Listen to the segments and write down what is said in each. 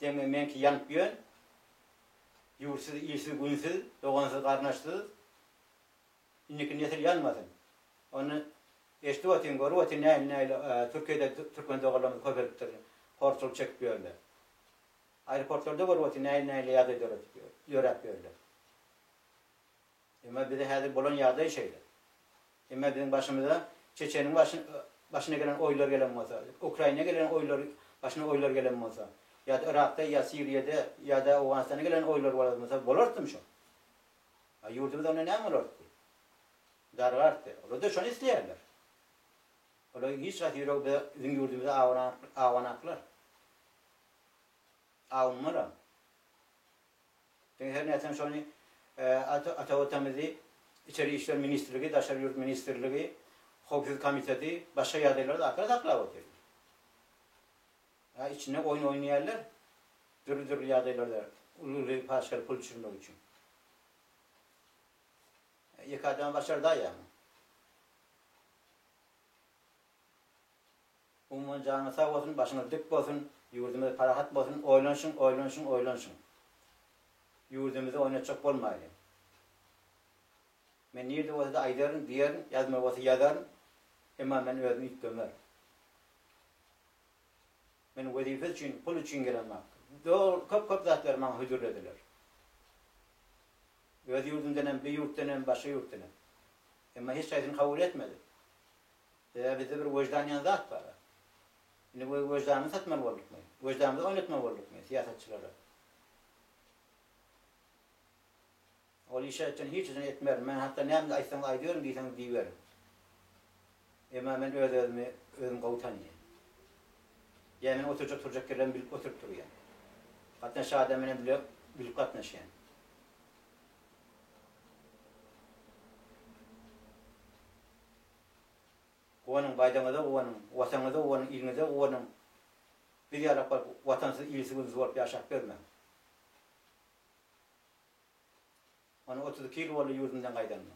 Deme meňki ýanyp ýön. Ýurtsyz, ilsiz, günsiz, dogansyz, garyndaşsyz. Indiki nesil ýanmasyn. Ony eşidip otyň, görüp otyň nähili nähili Türkiýede türkmen doganlarymyz köpelipdir, horçulyk çekip ýörler. Aeroportlarda görüp otyň nähili nähili ýagdaýlar ýöräp ýörler. Emma bize häzir bolan ýagdaý şeýle. Emma biziň başymyza Çeçeniň başyna gelen oýlar gelen bolsa, Ukraina gelen oýlar başyna oýlar gelen bolsa, ýa-da Yrakda ýa Siriýada ýa-da Owganystana gelen oýlar bolan bolsa bolartdym şo. A ýurdumyz onda näme bolartdy? Dargartdy. Olar-da şony isleýärler. Olaryň hiç haýsy ýüregi biziň ýurdumyza awanaklar. Awanmalam. Diňe her nätseň şony ata Watanymyzy Içeri işler ministrligi, Daşary ýurt ministrligi, Howpsuzlyk komiteti başga ýagdaýlary dakara saklap otyr. Ýa içinde oýun oýnaýarlar dürli-dürli ýagdaýlarda uly-uly paçkary pul düşürmek üçin. Ýeke adama başarda ýa muny. Umuman janyňyz sag bolsun başyňyz dik bolsun ýurdumyz parahat bolsun oýlanyşyň oýlanyşyň oýlanyşyň ýurdumyzy oýnatjak bolmaýly men nirde bolsada aýdaryn diýerin ýazmaly bolsa ýazaryn emma men özüm üýtgemer men wezipe üçin pul üçin gelen mak dogry köp köp zatlary maňa hödürlediler öz ýurdumdan hem bu ýurtdan hem başga ýurtdan hem emma hiç haýsyny kabul etmedim Ýa bizde bir weždan diýen zat bar-a. Indi we weždanymyzy satmaly boldukmy? Weždanymyzy oýnatmaly boldukmy syýasatçylara? Ol işi etjegini hiç üçin etmerin. Men hatda näme aýtsaňyz aýdyberem, diýseňiz diýiberin. Emma men öz-özümi özüm gowy tanýan. Ýa meniň oturjak-turjak ýerlerimi bilip oturyp durýan. Gatnaşjak adam bilen bile bilip gatnaşýan. Guwanyň, baýdagyňyza guwanyň, Wataňyza guwanyň, iliňize guwanyň. Biz ýalak bolup, watansyz, ilsiz-günsiz bolup ýaşap ýörmäň. Ony otuz iki ýyl boldy ýurdumdan gaýdanyma.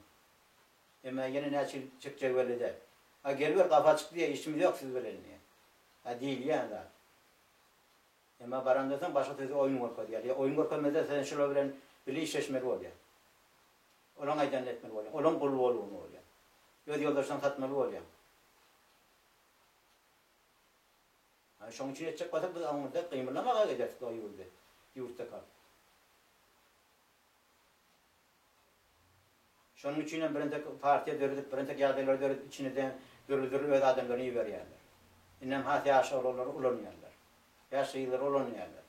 Emma ýene näçe ýyl çekjegi belli däl. A geliber, gapy açyk diýýär, işimiz ýok siz bilen diýýär. A diýilýän zat. Emma barandan soň başga sözde oýun görkezýärler. Ýa oýun görkezmezlerse sen şular bilen bile işleşmeli bolýaň. Olaň aýdanyny etmeli bolýaň. Olaň guly bolguly bolýaň. Öz ýoldaşlaryňy satmaly bolýaň. Ana şoň üçin etjek bolsak biz awňyda gymyllamaga ederis bu ýurdy. Ýurtda kalyp. Şonuň üçin hem birintek partiýa döredip, birintek ýagdaýlary döredip içine de dürli-dürli öz adamlaryny iberýärler. Indem has ýaş oglanlary ulanýarlar. Ýaş gyzlary ulanýarlar.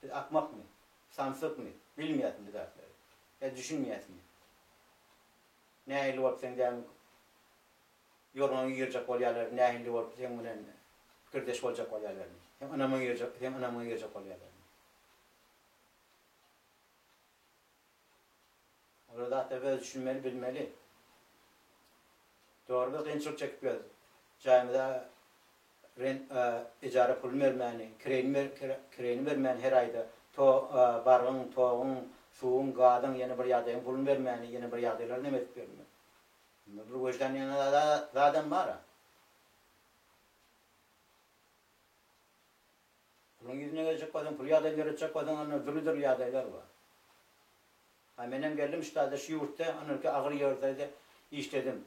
Biz akmakmy? Samsykmy? Bilmeýäsmi bu zatlary? Ýa düşünmeýäsmi? Nähilli bolup seň dämiň ýorgaňy ýyrjak bolýarlar, nähilli bolup seň bilen pikirdeş boljak bolýarlarmy? Seň ynamyňy ýyrjak, seň ynamyňy ýyrjak bolýarlarmy? Olar zatlar öz düşünmeli bilmeli. Dogry biz gynçylyk çekip ýörüs. Jaýymyza rent ejara puluny bermäni, kireýini bermäni her aýda to bargyň, toguň, suwuň, gazyň ýene bir ýagdaýyň puluny bermäni ýene bir ýagdaýlar neme edip ýörüň. Bunda bir weždan diýen zadam bara. Puluň ýüzüne geljek bolsaň, pul ýagdaýyny döretjek bolsaň, onda dürli-dürli ýagdaýlar bar. Ha, menem geldim, ştada, şu ýurtda, ynhyrki agyr ýerde-de işledim.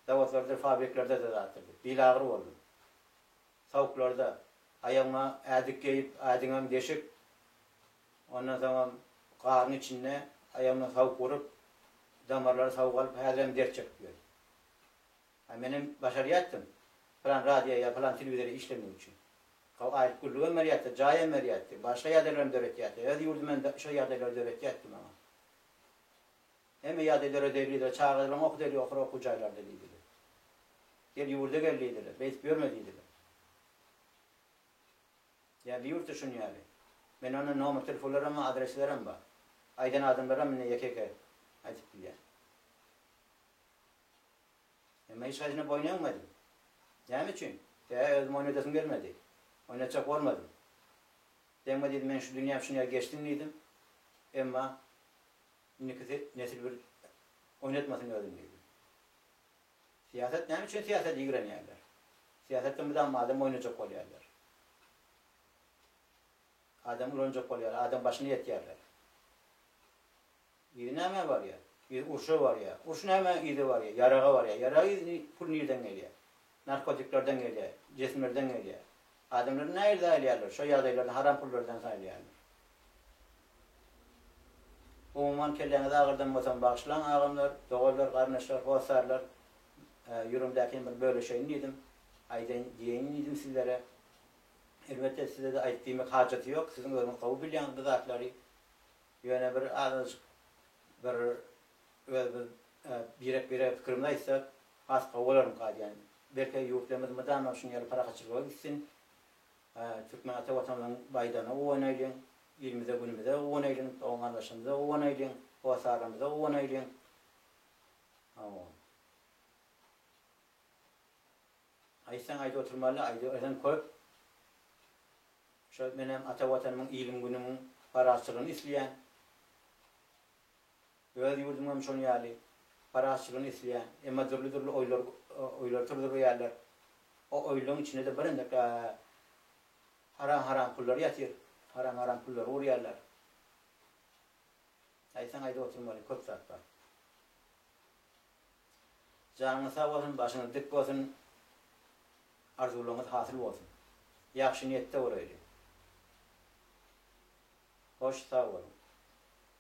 Zawodlardyr, fabriklerde-de zatdyr diýip, bilagyr boldum. Tawuklarda, aýagyňa ädik geýip, ädiňem deşik, ondan soňam garyň içinde aýagyňdan tawuk urup, damarlary tawuk alyp, häzirem dert çekip ýörüs. A menem başarýatdym. Pylan radio ýa pylan telewizorda işlemek üçin. How aýlyk gürrügem berýärdi, jaýam berýärdi, başga ýagdaýlaram döretýärdi. Öz ýurdum hem şol ýagdaýlary döretýärdi maňa. Hemme ýagdaý döredelidir, çagajylaň okudeli okur okuw jaýlarda diýdiler. Gel ýurda gel diýdiler, beýdip ýörme diýdiler. Ýa bir ýurtda şuny ýaly. Mende onda nomer telefonlaram bar, adresleram bar. Aýdan adamlaram indi ýeke-ýeke aýdyp bilýär. Emma hiç haýsyna boýun egmedim. Näme üçin? Bä, özüm oýnadasym gelmedi. Oýnatjak bolmadym. Degme diýdim, meniň şu dünýäm şuny ýaly geçsin diýdim. Emma indiki nesil bir oýnatmasyn özüni diýdim. Syýasat näme üçin syýasata ýigrenýärler? Syýasatda mydama adam oýnajak bolýarlar. Adam ulanjak bolýarlar, adam başyny ýetýärler. Yzy nämä barýar? Yzy urşa barýar. Urş nämä yzy barýar? Ýaraga barýar. Ýaraga yzy pul nirden gelýär? Narkotiklerden gelýär, jesimlerden gelýär. Adamlary nähili saýlaýarlar? Şo ýagdaýlarda haram pullardan saýlaýarlar. Umuman kelläňizi agyrdanmasam bagyşlaň agamlar, doganlar, garyndaşlar, hossarlar. Ýüregimdäkini bir bölüşeýin diýdim. Aýdaýyn, diýeýin diýdim sizlere. Elbetde size-de aýdyp diýmek hajaty ýok, siziň özüňiz gowy bilýäňiz bu zatlary. Ýöne bir azajyk bir özümiz birek-birege pikirimizi aýtsak, has gowy bolarmyka diýýän. Belki ýurtlarymyz mydama şunuň ýaly parahatçylyga gitsin. Türkmen ata Watanymyzyň baýdagyna guwanaýlyň, ilimize-günümize guwanaýlyň, dogan-gardaşlarymyza guwanaýlyň, hossarlarymyza guwanaýlyň. Sag boluň. Aýtsaň aýdyp oturmaly, aýdyp eden köp. Şol menem ata watanymyň, iliň, günümiň parazçylygyny isleýän. Öz ýurdum hem şoň ýaly parazçylygyny isleýän. Emma dürli-dürli oýlar, oýlar turdurýarlar. O oýlaryň içinde-de bir endikä haram-haram pullar ýatyr. Haram-haram pullary urýarlar. Aýtsaň aýdyp oturmaly, köp zat bar. Janyňyz sag bolsun, başyňyz dik bolsun, arzuwlaryňyz hasyl bolsun. Ýagşy niýetde bolaýly. Hoş, sag boluň.